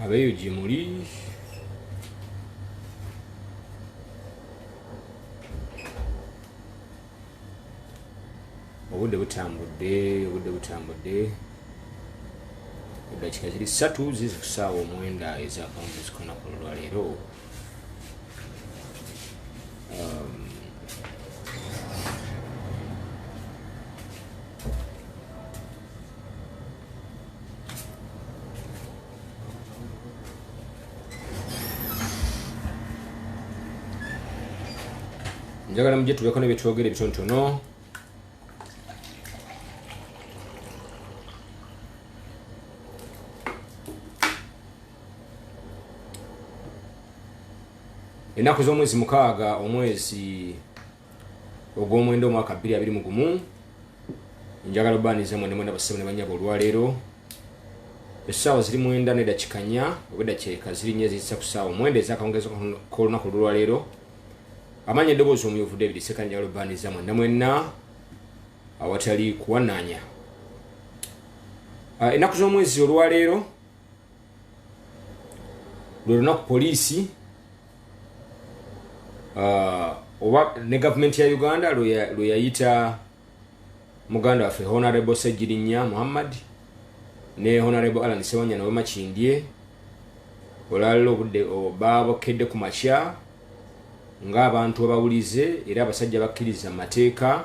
abeeyo gye muli obudde butambudde obudde butambudde eddakiika ziri ssatu zizi ku ssaawa omwenda ezakawungeezi kona ku lwaleero njagala mujje tubeeko nebyetwogera ebitonotono ennaku z'omwezi mukaaga omwezi ogw'omwenda omwaka bbiri abiri mu gumu njagala obaaniza mwena mwena basebo ne banyabo olwaleero essaawa ziri mwenda nedakikanya obwedda kyeka ziri nyo eziyisa ku ssaawa omwenda ezakawungezo k'olunaku olwaleero amaanyi eddoboozi omuyuvu david seka njagala obaaniza mwena mwena awatali kuwanaanya ah, ennaku z'omwezi olwaleero lwe lunaku poliisi uh, oba ne gavumenti ya uganda lwe yayita muganda waffe honorable sejirinya muhammad ne honorable alan sewanya nawe makindye olwalala obudde babokedde ku makya ngaabantu abawulize era abasajja bakkiriza mu mateeka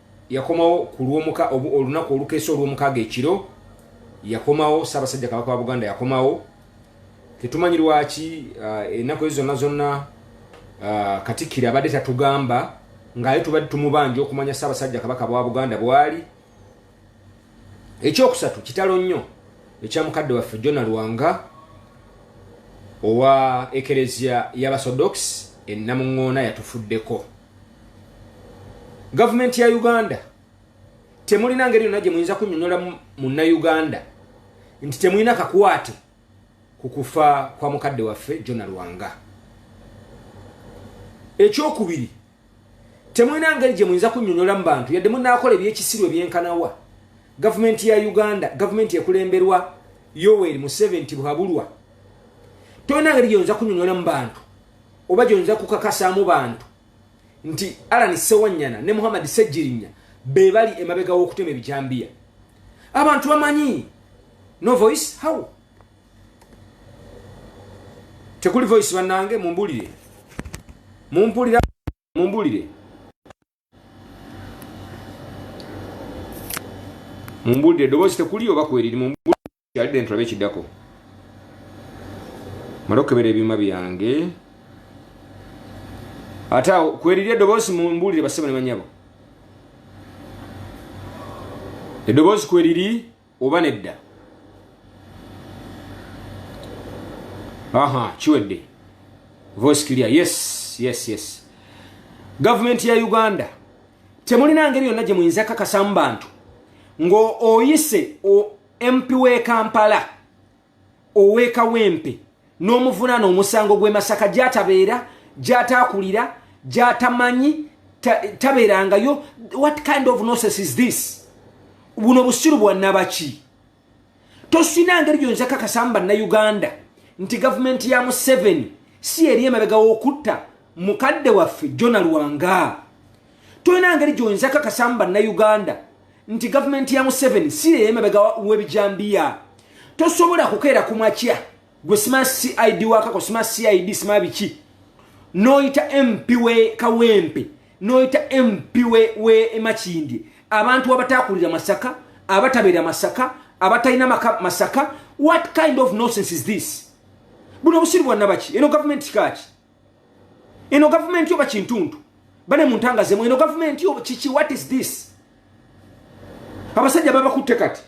yakomawo ku lwomuka olunaku olukeesa olwomukaaga ekiro yakomawo ssaabasajja kabaka wa buganda yakomawo tetumanyi lwaki uh, ennaku ezo zonna zonna uh, katikkiro abadde tatugamba ngaaye tubadde tumubanja okumanya ssaabasajja kabaka bwa buganda bwali ekyokusatu kitalo nnyo ekya mukadde waffe jona lwanga owa ekereziya y'abasodox ennamuŋŋoona yatufuddeko gavumenti ya uganda temulina ngeri yonna gye muyinza kunyonyola munnauganda nti temulina kakwate ku kufa kwa mukadde waffe jona lwanga ekyokubiri temulina ngeri gye muyinza kunyonyola mu bantu yadde munaakola ebyekisiru ebyenkanawa gavumenti ya uganda gavumenti ekulemberwa yoweri museveni tibwabulwa tolina ngeri gyeyinza kunyonyola mu bantu oba gyoyinza kukakasaamu bantu nti alani sewanyana ne muhammad sejirinya be bali emabega w'okutema ebijambiya abantu bamanyi no voice how tekuli voice bannange mumbulire mumpulira mumbulire mumbulire eddoboozi tekuli oba kweriri mumbulire tulabe ekiddako mala okukebera ebyuma byange ate awo kweriri eddoboozi mumbulire bassebo ne banyabo eddoboozi kweriri oba nedda aha kiwedde voice clear yes yes yes gavumenti ya uganda temulina ngeri yonna gye muyinza kakasamu bantu ng'oyise mp w'e kampala ow'e Kawempe n'omuvunaana omusango gw'e Masaka gy'atabeera gy'ataakulira gy'atamanyi tabeerangayo what kind of nonsense is this buno busiru bwa nabaki tosina ngeri gyonza kakasamu bannayuganda nti gavumenti ya museveni si eri emabega w'okutta mukadde waffe jona lwanga tolina ngeri gyoyinza kakasamu bannauganda nti gavumenti ya museveni siyeyemabega webijambiya tosobola kukeera ku makya gwe sima cid wakako sima cid sima biki noyita mp we kawempe noyita mp we emakindye abantu abatakulira masaka abatabeera masaka abatalina maka masaka what kind of nosense is this buno obusiru bwannabaki eno gavumenti kaki eno gavumenti oba kintundu bane muntangazemu eno gavumenti oba kiki what is this abasajja babakutte kati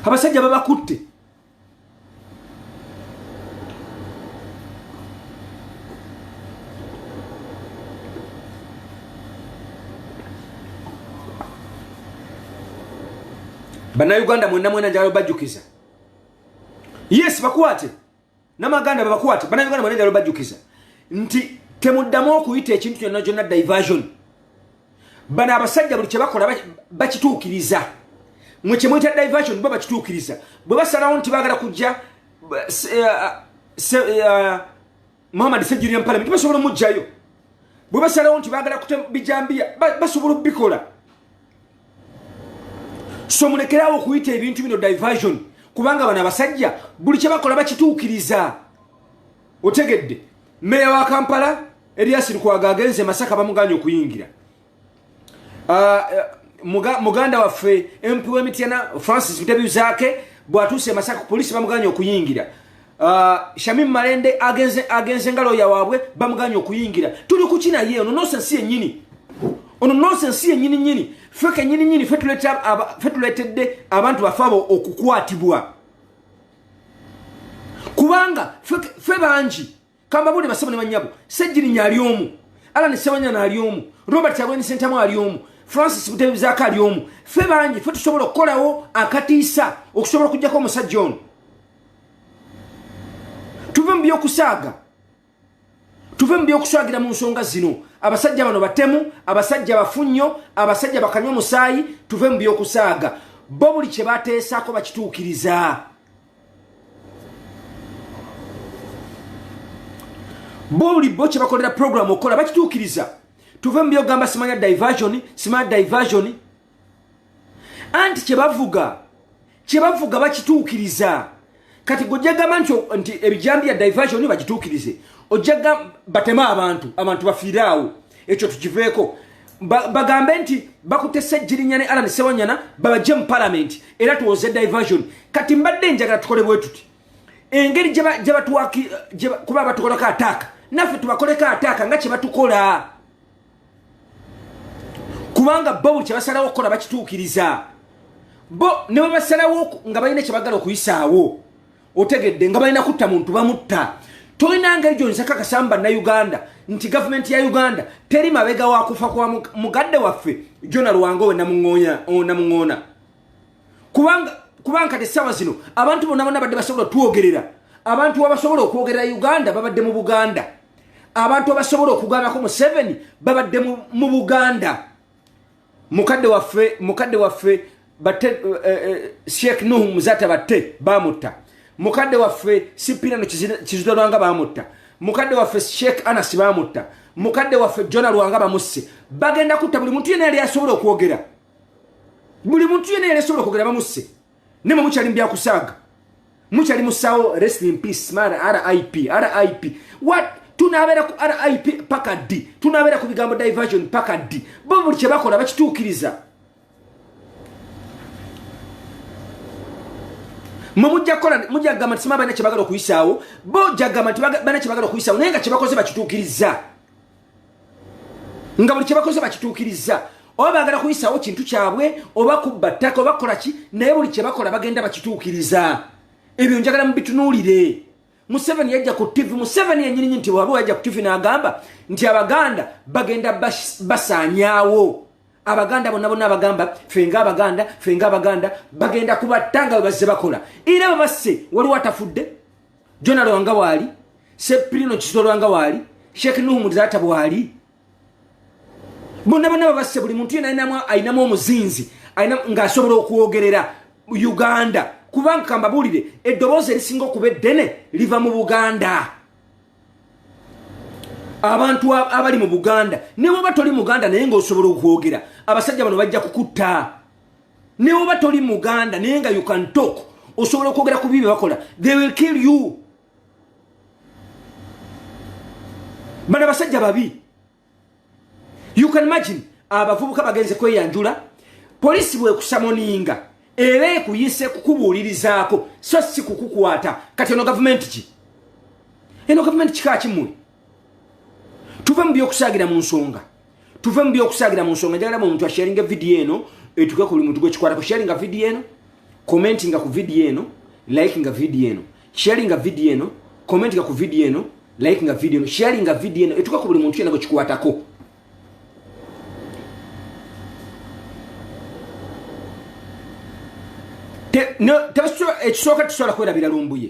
abasajja babakutte banauganda mwena mwena njalo bajukiza yes bakwate namaganda babakwate banayuganda bona njalo bajjukiza nti temuddamu okuyita ekintu kyonna kyonna diversion bano abasajja buli kyebakola bakituukiriza mwe kyemuyita diversion bo bakituukiriza bwe basalawo nti bagala kujja eh, eh, eh, muhammad sejjirira mu palamenti basobola omugjayo bwe basalawo nti bagala kute bijambiya basobola okubikola so mulekerawo okuyita ebintu bino diversion kubanga bano abasajja buli kyebakola bakituukiriza otegedde meeya wa kampala eryasirikwaga agenze masaka bamuganya okuyingira ah, eh, muganda waffe mp wemityana francis mutebyuzake bwatuuse emasaka ku polisi bamuganye okuyingira ah, shamim malende agenze nga loya waabwe bamuganye okuyingira tuli kuki naye ono nosensi yenyini ono nosensi yenyini nyini fe kenyini nyini fe tuletedde abantu bafe abo okukwatibwa kubanga fe bangi kambabuli basebo ne banyabo sejirinya ali omu alani sewanyana ali omu robert kyagweni sentamu ali omu francis butebizako ali omu fe bangi fe tusobola okukolawo akatiisa okusobola okujjako omusajja ono tuve mu byokusaaga tuve mu byokuswagira mu nsonga zino abasajja bano batemu abasajja bafu nnyo abasajja bakanywa omusaayi tuve mu byokusaaga bo buli kye bateesaako bakituukiriza bo buli bo kyebakolera program okola bakituukiriza tuve mu byogamba simanya diversion simanya diversion anti kyebavuga kyebavuga bakituukiriza kati gwe ojja gamba nti nti ebijambi ya diversion bagituukirize ojja batema abantu abantu bafiire awo ekyo tukiveeko ba- bagambe nti bakutte sejjirinya ne alan sewanyana babajje mu palamenti era tuwoze diversion kati mbadde njagala tukole bwe tuti engeri gye ba- gye batuwaki- gye ba- kuba batukolako ataaka naffe tubakoleko ataaka nga kye batukola kubanga bo buli kyebasalawo okukola bakituukiriza bo ne bwe basalawo oku- nga balina kyebagala okuyisaawo otegedde nga balina kutta muntu bamutta tolina ngeri gyonza kakasamba na uganda nti gavumenti ya uganda teri mabega wakufa kwa mugadde waffe jona lwango we namuŋoona kubanga kati saawa zino abantu bona bona badde basobola twogerera abantu abasobola okwogerera uganda babadde mu buganda abantu abasobola okugambako museveni babadde mu buganda mukadde waffe mukadde waffe batte eh, eh, eh, sheikh nuhu muzata batte bamutta mukadde waffe sipirano kizuda lwanga bamutta mukadde waffe sheikh anas bamutta mukadde waffe jona lwanga bamusse bagenda kutta buli muntu yena yali asobola okwogera buli muntu yena yali asobola okwogera bamusse ne mwe mukyali mubyakusaaga mukyali musawo rest in peace man rip rip what tunabeera ku rip paka ddi tunabeera ku bigambo diversion paka ddi bo buli kyebakola bakituukiriza mwe mujja kukola mujja kugamba nti sima balina kyebagala okuyisaawo bo jagamba nti balina kyebagala okuyisaawo naye nga kyebakoze bakituukiriza nga buli kyebakoze bakituukirizza oba bagala kuyisawo kintu kyabwe oba kubba ttaka oba kukola ki naye buli kyebakola bagenda bakituukiriza ebyo njagala mubitunuulire museveni yajja ku ttivi museveni yenyininyini nti waliwo yajja ku ttivi n'agamba nti abaganda bagenda basaanyaawo abaganda bonna bonna abagamba fenga abaganda fenga abaganda bagenda kubatta nga bwe bazze bakola era babasse waliwo atafudde jona lwanga waali sepirino kizo lwanga waali sheikh nuhu muzata bwaali bonna bana babasse buli muntu yena alinamu omuzinzi ngaasobola okwogerera uganda kubanga kambabuulire eddoboozi erisinga okuba eddene liva mu buganda abantu abali mu buganda newaba toli muganda naye ngaosobola okwogera abasajja bano bajja kukutta naye oba toli muganda naye nga you can talk osobola okwogera ku bibi bakola they will kill you bana basajja babi you can imagine abavubuka bagenze kweyanjula polisi bwekusamoninga era ekuyise kukubuulirizaako so si kukukwata kati eno gavumenti ki eno gavumenti kika kimuli tuve mu byokusaagira mu nsonga tuve mu byokusaagira mu nsonga njagala muntu asharinga vidiyo eno etuke ku buli muntu gwekikwatako sharinga vidiyo eno commentinga ku vidiyo eno likinga vidiyo eno sharinga vidiyo eno commentinga ku vidiyo eno likinga vidiyo eno sharinga vidiyo eno etuke ku buli muntu yena gwekikwatako ekisooka tesobola kwerabira lumbuye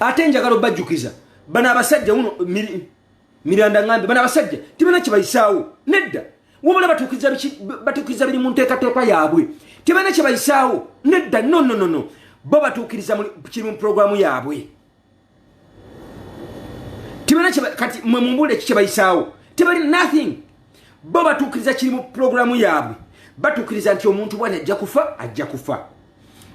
ate njagala obajjukiza bano abasajja uno miranda ngambe bano abasajja tibana kibayisaawo nedda wabula batuukiriza biri mu nteekateeka yaabwe tibana kibayisaawo nedda nononono bo batuukiriza kiri mu puroguramu yaabwe kati mwe mumbule eki kyebayisaawo tebali nothing bo batuukiriza kiri mu pulogulaamu yaabwe batuukiriza nti omuntu bwani ajja kufa ajja kufa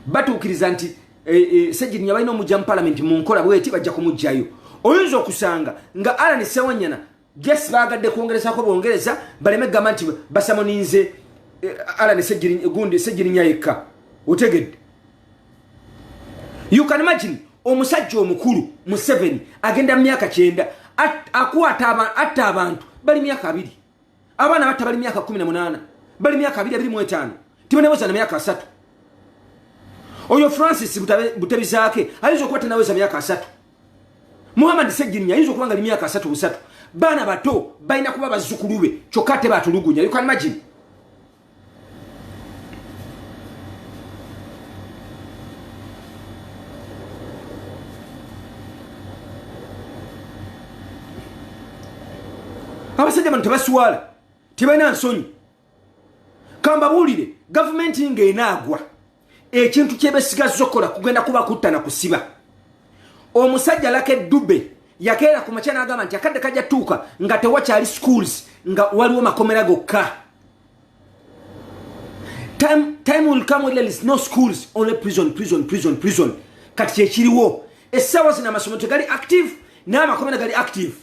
batuukiriza nti eh, eh, segirinya balina omujja mu palamenti mu nkola bweti bajja kumugjayo oyinza okusanga nga alani sewanyana Yes bagadde kwongerezako bongereza baleme gamba nti basamoninze eh, Alan Sejiri gundi Sejiri nyayeka otegedde You can imagine omusajja omukulu mu 7 agenda myaka 9 akwata abantu atta abantu bali myaka 2 abana batta bali myaka 18 bali myaka 2 bali mwetano tibanaweza na myaka 3 Oyo Francis butabizaake ayizo kwata naweza myaka 3 muhammad sejjirinya ayinza okuba nga limyaka asatu busatu baana bato balina kuba bazzukulu be kyokka ate batulugunya you can imagine abasajja bano tebaswala tebalina nsonyi kambabuulire gavumenti ng'enaagwa ekintu kyebesigazza okukola kugenda kuba kutta na kusiba omusajja laka eddube yakeera ku makya n'agamba nti akadde kajja tuuka nga tewakyali schools nga waliwo makomera gokka time will come when there is no schools only prison prison prison prison kati kyekiriwo essaawa zino amasomo tegali active n'amakomera gali active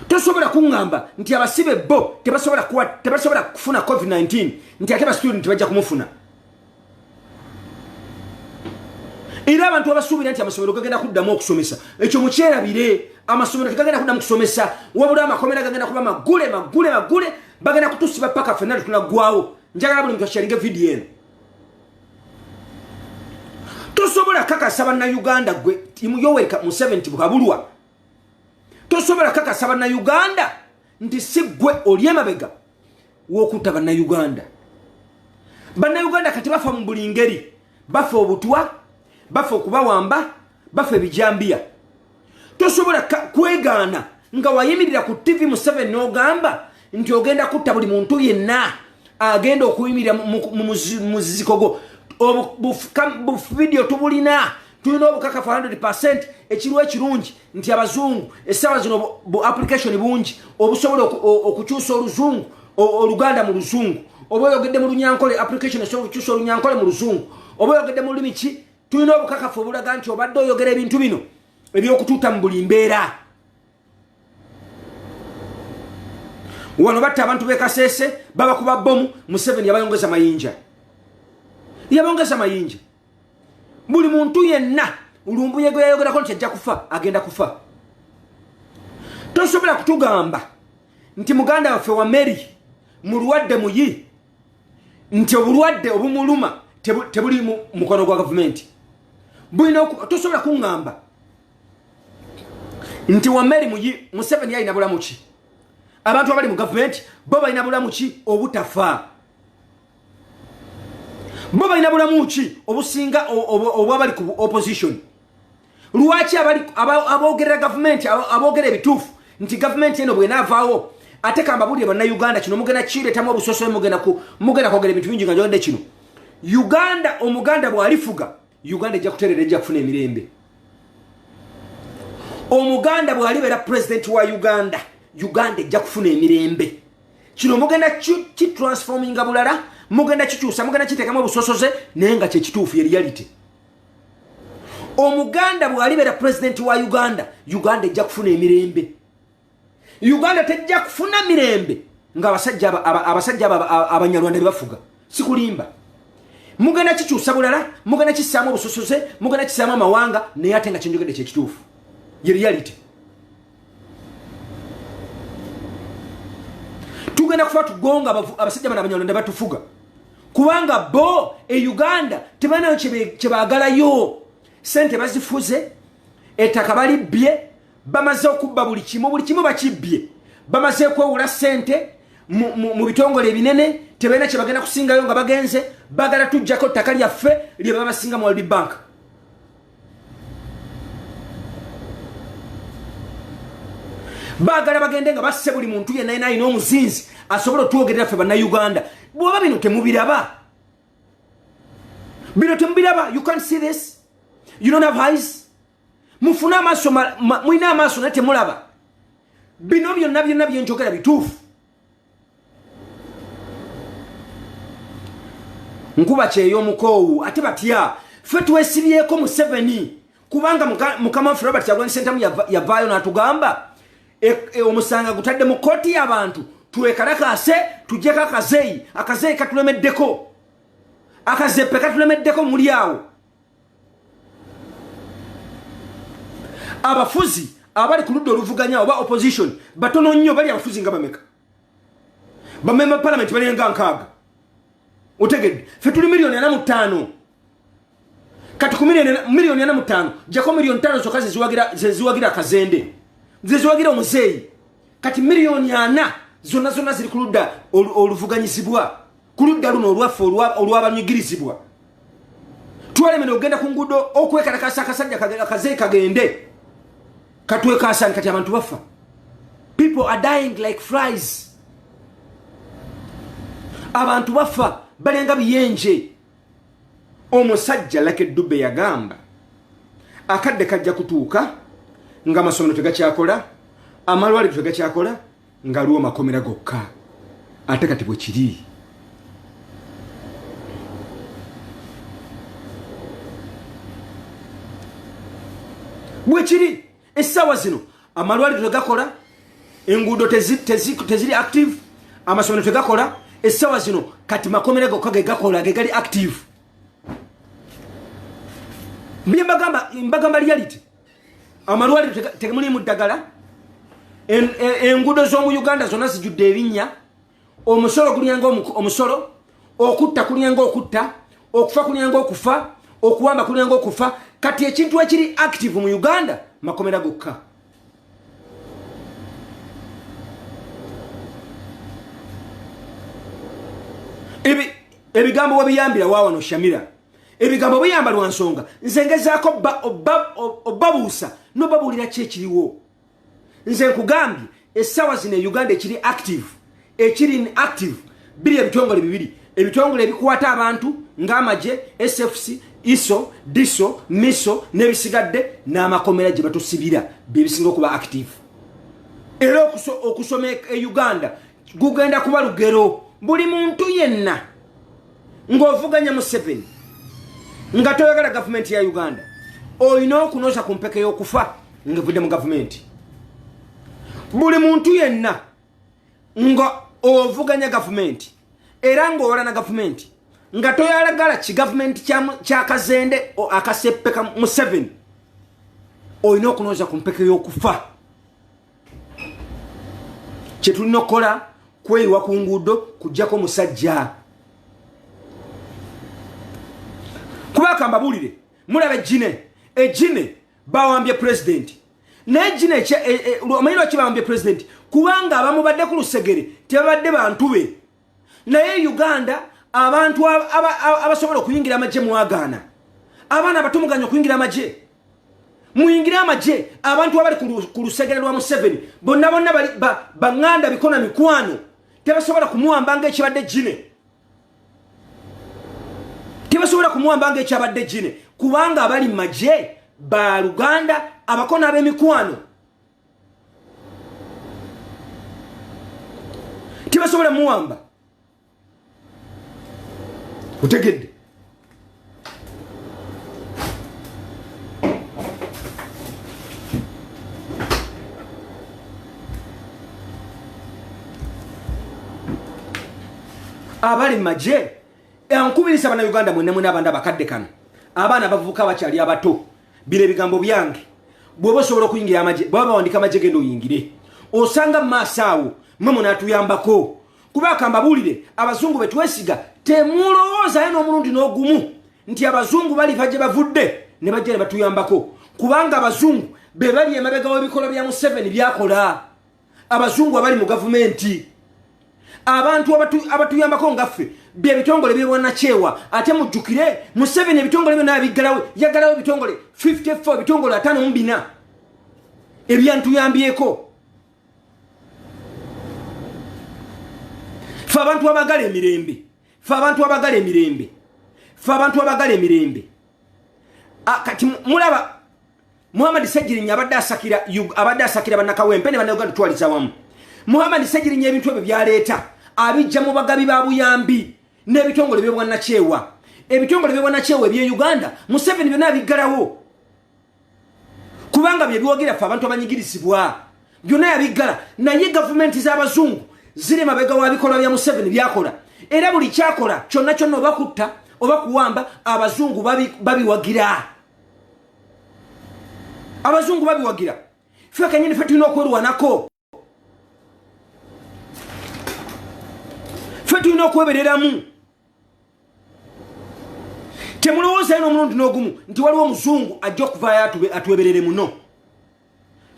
tosobola kuŋŋamba nti abasibe bo tebasobola kuwa tebasobola kufuna covid-19 nti ate bastudenti bajja kumufuna era abantu abasuubira nti amasomero gagenda kuddamu okusomesa ekyo mukyerabire amasomero tegagenda kuddamu kusomesa wabula amakomera gagenda kuba magule magule magule bagenda kutusiba paka fenna tetunaggwawo njagala buli muntu akyalinga vidiyo eno tosobola kakasa bannayuganda gwe yoweri museveni ti bukabulwa tosobola kakasa bannayuganda nti si ggwe oli emabega w'okutta bannayuganda bannayuganda kati bafa mu buli ngeri bafa obutwa bafa okubawamba bafa ebijambiya tosobola kwegaana nga wayimirira ku ttivi museveni n'ogamba nti ogenda kutta buli muntu yenna agenda okuyimirira mumuziziko gwo obuvidiyo tubulina tulina obukakafu 100 percent ekiriwo ekirungi nti abazungu essaawa zino bu application bungi obusobola okukyusa oluzungu oluganda mu luzungu oba oyogedde mu lunyankole application esobola okukyusa olunyankole mu luzungu oba oyogedde mu lulimi ki tulina obukakafu obulaga nti obadde oyogera ebintu bino ebyokutuuta mu buli mbeera wano batta abantu bekaseese babakuba bomu museveni yabayongeza mayinja yabongeza mayinja buli muntu yenna lumbuye gwe yayogerako nti ajja kufa agenda kufa tosobola kutugamba nti muganda waffe wa mary mulwadde muyi nti obulwadde obumuluma tebuli mukono gwa gavumenti bulina tosobola kuŋŋamba nti wameri muyi museveni yalina bulamu ki abantu abali mu gavumenti bo balina bulamu ki obutafa bo balina bulamu ki obusinga obwabali ku opposition lwaki abogerera gavumenti aboogera ebituufu nti gavumenti eno bwenaavaawo ate kambabulire bannauganda kino mugenda kireetamu obusosoe mugenda kwogera ebintu bingi nga njogadde kino uganda omuganda bwalifuga uganda ejja kuterera ejja kufuna emirembe omuganda bwalibeera pulezidenti wa uganda uganda ejja kufuna emirembe kino mugenda kitransfominga bulala mugenda kikyusa mugenda kiteekamu obusosoze naye nga kyekituufu ye reality omuganda bwalibera pulezidenti wa uganda uganda ejja kufuna emirembe uganda tejja kufuna mirembe nga abasajja abanyarwanda bebafuga sikulimba mugenda kikyusa bulala mugenda kisaamu obusosoze mugenda kisaamu amawanga naye ate nga kyenjogedde kyekituufu ye reality tugenda kufa tugonga abasajja bana abanyarwanda batufuga kubanga bo e uganda tebanayo kyebagalayo sente bazifuze ettaka balibbye bamaze okubba buli kimu buli kimu bakibbye bamaze kwewula sente mu bitongole ebinene tebalina kyebagenda kusingayo nga bagenze bagala tujjako ttaka lyaffe lyebabasinga mu world bank bagala bagende nga basse buli muntu yenna yena alina omuzinzi asobola otwogerera ffe bannauganda bwoba bino temubiraba bino temubiraba you can't see this you don't have eyes mufune amaaso mulina amaaso naye temulaba bino byonna byonna byenjogera bituufu nkuba kyeyo omukoowu ate batya fe twesibyeko museveni kubanga mukama waffe robert kyagulani sentamu yavaayo natugamba e, e, omusanga gutadde mu kooti yabantu twekalakase tujeko akazeyi akazeyi katulemeddeko akazepe katulemeddeko muli awo abafuzi abali ku ludda oluvuganya oba opposition batono nnyo bali abafuzi nga bameka bamemba palamenti balinga nkaaga otegedde fe tuli miliyoni ana mu ttaano kati ku miliyoni ana mu ttaano jako miliyoni ttaano zokka zeziwagira akazende zeziwagira omuzeeyi kati miliyoni ana zonna zonna ziri ku ludda oluvuganyizibwa ku ludda luno olwaffe olw'abanyigirizibwa twalemera okugenda ku nguudo okwekalakasa akasajja kaze kagende katwekaasani kati abantu bafa people are dying like fries abantu bafa balenga biyenje omusajja lake dube yagamba akadde kajja kutuuka nga amasomero tegakyakola amalwaliro tegakyakola ngaliwo makomera gokka ate kati bwe kiri bwe kiri essaawa zino amalwaliro tegakola enguudo teziri active amasomero tegakola essaawa zino kati makomera gokka ge gakola ge gali active mbye mbagamba reality amalwaliro temuliimu ddagala e, enguudo z'omu uganda zonna zijudde ebinnya omusolo gulyanga omusolo okutta kulyanga okutta okufa kulyanga okufa okuwamba kulyanga okufa kati ekintu ekiri active mu uganda makomera gokka ebigambo webiyambira wawano shamira ebigambo biyamba lwa nsonga nze ngezaako obabuusa nobabuulira ki ekiriwo nze nkugambye essaawa zino e uganda ekiri active ekiri in active biri ebitongole bibiri ebitongole ebikwata abantu ng'amagye sfc iso diso miso n'ebisigadde n'amakomera gye batusibira byebisinga okuba active era okusoma e uganda gugenda kuba lugero buli muntu yenna ng'ovuganya museveni nga toyagala gavumenti ya uganda olina okunoza ku mpeke y'okufa ngevudde mu gavumenti buli muntu yenna nga ovuganya gavumenti era ng'owola na gavumenti nga toyalagala ki gavumenti kyakazende akaseppeka museveni olina okunoza ku mpeke y'okufa kyetulina okukola kweyiwa ku nguudo kujjako musajja kuba kambabulire mulaba ejjine ejjine bawambye pulezidenti naye ejjine e, e, omanyi lwaki bawambye pulezidenti kubanga abamubadde ku lusegere tebabadde bantu be naye uganda abantu abasobola okuyingira amagye mwagaana abaana abato muganya okuyingira amagye muyingire amagye abantu abali ku lusegere lwa museveni bonna bonna baŋŋanda bikona mikwano tebasobola kumuwamba nga ekibadde gine tebasobola kumuwamba nga ekyabadde gine kubanga abali magye ba luganda abakona ab'emikwano tebasobola muwamba otegedde abali maje ankubiriza bana uganda mwene mwene abanda bakadde kano abaana bavuka bakyali abato bino ebigambo byange bwoba osobola okuyingira amagye baba bawandika amagye genda oyingire osanga mumaaso awo mwe munatuyambako kuba akambabuulire abazungu betwesiga temulowoozayo n'omulundi n'ogumu nti abazungu baliva gye bavudde ne bajja ne batuyambako kubanga abazungu be bali emabega w'ebikolwa bya museveni byakola abazungu abali mu gavumenti abantu abatuyambako ngaffe byebitongole byebwanakyewa ate mujjukire museveni ebitongole byona yabiggalawo yaggalawo ebitongole 54 ebitongole atano mubina ebyantuyambyeko fe abantu abagala emirembe fe abantu abagala emirembe fe abantu abagala emirembe ah, kati mulaba muhammad segirinya abadde asakira abadde asakira banakawempe ne banauganda twaliza wamu muhammad segirinya ebintu ebyo byaleeta abijja mu bagabi ba buyambi n'ebitongole byobwanakyewa ebitongole byobwanakyewa ebye uganda museveni byona abiggalawo kubanga byebyogera fe abantu abanyigirizibwa byona yabiggala naye gavumenti z'abazungu ziri mabega wa bikolwa bya museveni byakola era buli kyakola kyonna kyonna obakutta oba kuwamba abazungu babiwagira babi abazungu babiwagira fe kanyini fe tulina okwerwanako fe tulina okwebereramu temulowoozayo n'omulundi n'ogumu nti waliwo omuzungu ajja okuvaayo atweberere muno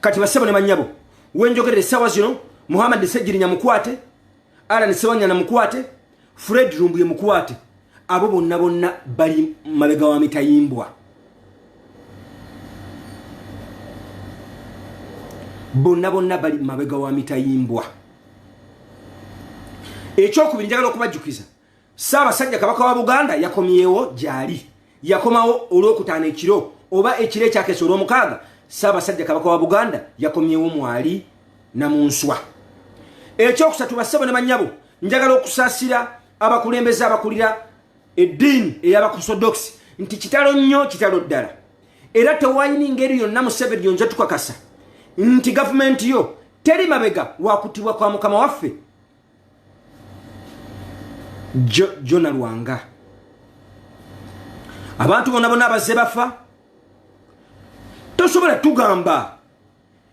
kati basebo ne banyabo wenjogerera esawa zino muhammad sejirinya mukwate alan sewanyana mukwate fred rumbuye mukwate abo bonna bonna bali mabega wa mitayimbwa bonna bonna bali mabega wa mitayimbwa ekyokubiri njagala okubajjukiza Ssaabasajja Kabaka wa Buganda yakomyewo gyali yakomawo olwokutaano ekiro oba ekiro ekyakeesa olwomukaaga Ssaabasajja Kabaka wa Buganda yakomyewo mwali na mu nswa. Ekyokusatu bassebo ne bannyabo njagala okusaasira abakulembeze abakulira eddiini eyabakusodokisi nti kitalo nnyo kitalo ddala era tewayini ngeri yonna museveni yonja tukakasa nti gavumenti yo teri mabega wakutibwa kwa mukama waffe jona lwanga abantu bona bona abazze bafa tosobola tugamba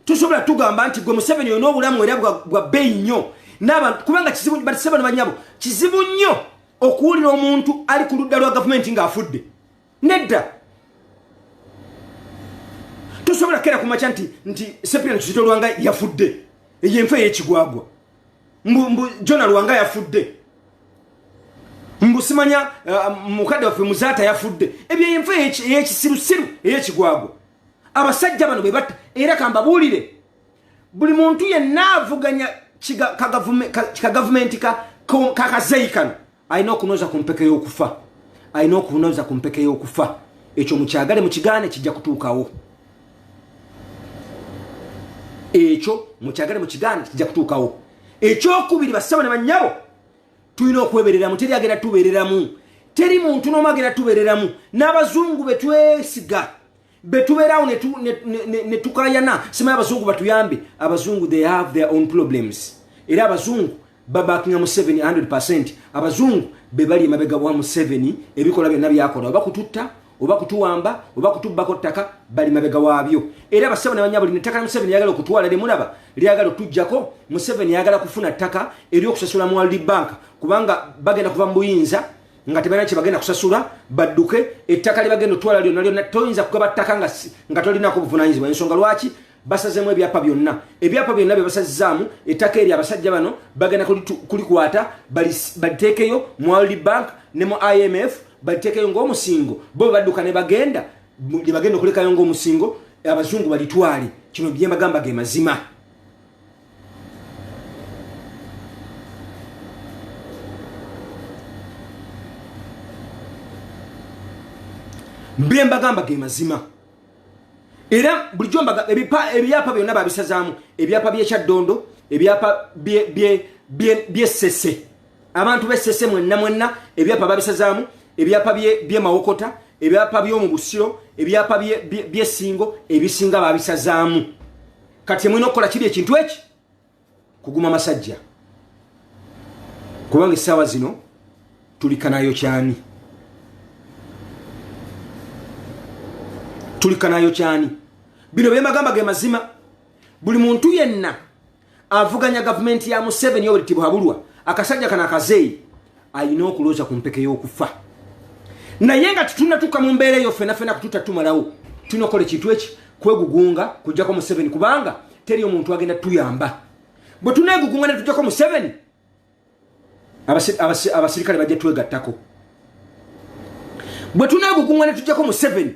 tosobola tugamba nti gwe museveni olina obulamu era bwa bbeeyi nnyo nabantu kubanga kizibu batise bano banyabo kizibu nnyo okuwulira omuntu ali ku ludda lwa gavumenti ng'afudde nedda tosobola kera kumakya nti nti sepira nti kitolwanga yafudde eyo enfa eyekigwagwa mbu mbu jona lwanga yafudde mbu simanya uh, mukadde waffe muzaata yafudde ebyo enfa eyekisirusiru eyekigwago abasajja bano be batta era kambabuulire buli muntu yenna avuganya kagavumenti kakazeyi kano alina okunoza ku mpeke y'okufa alina okunoza ku mpeke y'okufa ekyo mukyagale mukigaane kijja kutuukawo ekyo mukyagale mukigaane kijja kutuukawo ekyokubiri basaba ne bannyabo tulina okwebereramu teri agenda tubereramu teri muntu n'omu agenda tubereramu n'abazungu be twesiga betubeerawo netukayana simaye abazungu batuyambe abazungu they have their own problems era abazungu babakinga museveni 100 percent abazungu bebali emabega wa museveni ebikola byonna byakola oba kututta oba kutuwamba oba kutubbako ttaka bali mabega waabyo era basebo nebanyabo lino ettaka museveni yagala okutwala limulaba lyagala otujjako museveni yagala kufuna ttaka eryokusasula mu world bank kubanga bagenda kuva mu buyinza nga tebalina kyebagenda kusasula badduke ettaka lyebagenda otwala lyonna lyonna toyinza kugaba ttaka nga tolinako obuvunanyizibwa ensonga lwaki basazemu ebyapa byonna ebyapa byonna byebasazzaamu ettaka eryo abasajja bano bagenda kulikwata baliteekeyo mu world bank ne mu imf baliteekeyo ngaomusingo bo bebadduka nebagenda lyebagenda okulekayo ngaomusingo abazungu balitwale kino byemagamba ge mazima bye mbagamba ge mazima era bulijjo mbaga ebipa- ebyapa byonna babisazaamu ebyapa byekyaddondo ebyapa bye- bye- bye- byesese abantu besese mwenna mwenna ebyapa babisazaamu ebyapa bye- byemawokota ebyapa byomu busiro ebyapa bye- bye- byesingo ebisinga babisazaamu kati kyemulina okukola kiri ekintu eki kuguma masajja kubanga essaawa zino tulikanayo kyani tulikanayo kyani bino byemagamba ge mazima buli muntu yenna avuganya gavumenti ya museveni oweritibwa habulwa akasajja kano akazeeyi alina okulooza ku mpeke y'okufa naye nga tetunatuuka mu mbeera eyo fena fena kututa tumalawo tunokola ekintu eki kwegugunga kujjako museveni kubanga teri omuntu agenda tuyamba bwe tunegugunga netujjako museveni abasirikale bajja twegattako bwe tunegugunga netujjako museveni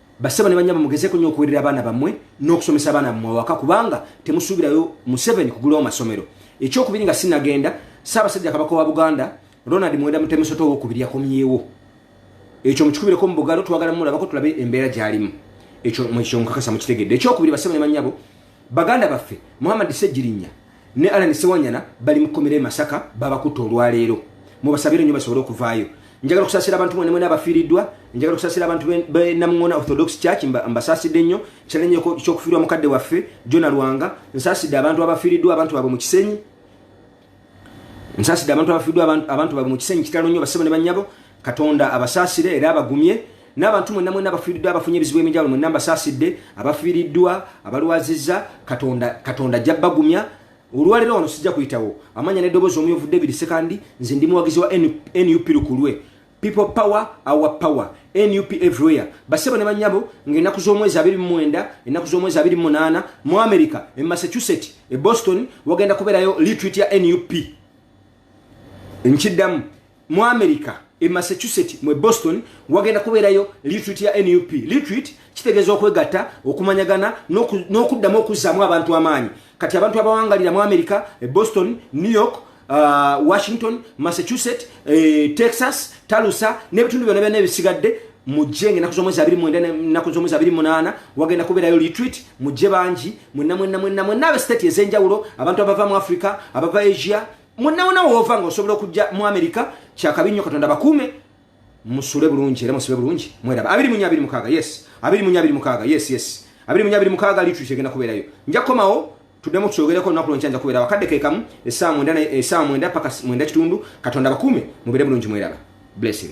basebo ne banyabo mugezeko nyo okuwerera abaana bamwe n'okusomesa abaana bamwe waka kubanga temusuubirayo museveni kugulawo masomero ekyokubiri nga sinagenda saabasajja kabaka wa buganda ronald mwenda mutemusoto owokubiri yakomyewo ekyo mukikubireko mu bugalo twagala mulabako tulabe embeera gyalimu ekyo mukikakasa mukitegedde ekyokubiri basebo ne banyabo Baganda baffe Muhammad Ssegirinya ne Allan Ssewanyana bali mu kkomera e Masaka babakutte olwaleero mubasabire nnyo basobole okuvaayo njagala okusasira abantu mwena mwena abafiiriddwa njagala okusasira abantu be namungona orthodox church mbasasidde nnyo kyalenyo kyokufiirwa mukadde waffe jona lwanga nsasidde abantu abafiiriddwa abantu baabwe mu kisenyi nsaside abantu abafiddwa abantu babwe mu kisenyi kitalo nnyo basebo ne bannyabo katonda abasaasire era abagumye n'abantu mwenna mwenna abafiiriddwa abafunye ebizibu eminjawulo mwenna mbasaasidde abafiiriddwa abalwazizza katonda katonda ajja bagumya olwaleero wano sijja kuyitawo amanya n'eddoboozi omuyovu david sekandi nze ndi muwagizi wa nup lukulwe people power our power nup everywhere basebo ne banyabo nga enaku z'omwezi abiri mu mwenda enaku z'omwezi abiri mu munaana mu america e massachusetts e boston wagenda kubeerayo litrit ya nup nkiddamu mu america e massachusetts mu e boston wagenda kubeerayo litrit ya nup litrit kitegeeza okwegatta okumanyagana n'okuddamu okuzzaamu abantu amaanyi kati abantu abawangalira mu america e boston new york uh, washington massachusetts e, texas talusa n'ebitundu byona byona ebisigadde mujje ngaenaku zomwezi abiri mwenda enaku zomwezi abiri munaana wagenda kubeerayo retreat mujje bangi mwenna mwenna mwenna mwenna abe state ez'enjawulo abantu abava mu africa abava asia mwenna wona woova nga osobola okujja mu america kyakabi nnyo katonda bakuume musule bulungi era musibe bulungi mweraba abiri munya abiri mukaaga yes abiri munya abiri mukaaga yes yes abiri munya abiri mukaaga litri kyegenda kubeerayo nja kukomawo tudemu tuyogereko olunaku lwonkya nja kubeera wakadde kekamu esaawa mwenda esaawa mwenda paka mwenda kitundu katonda bakuume mubere bulungi mweraba blessing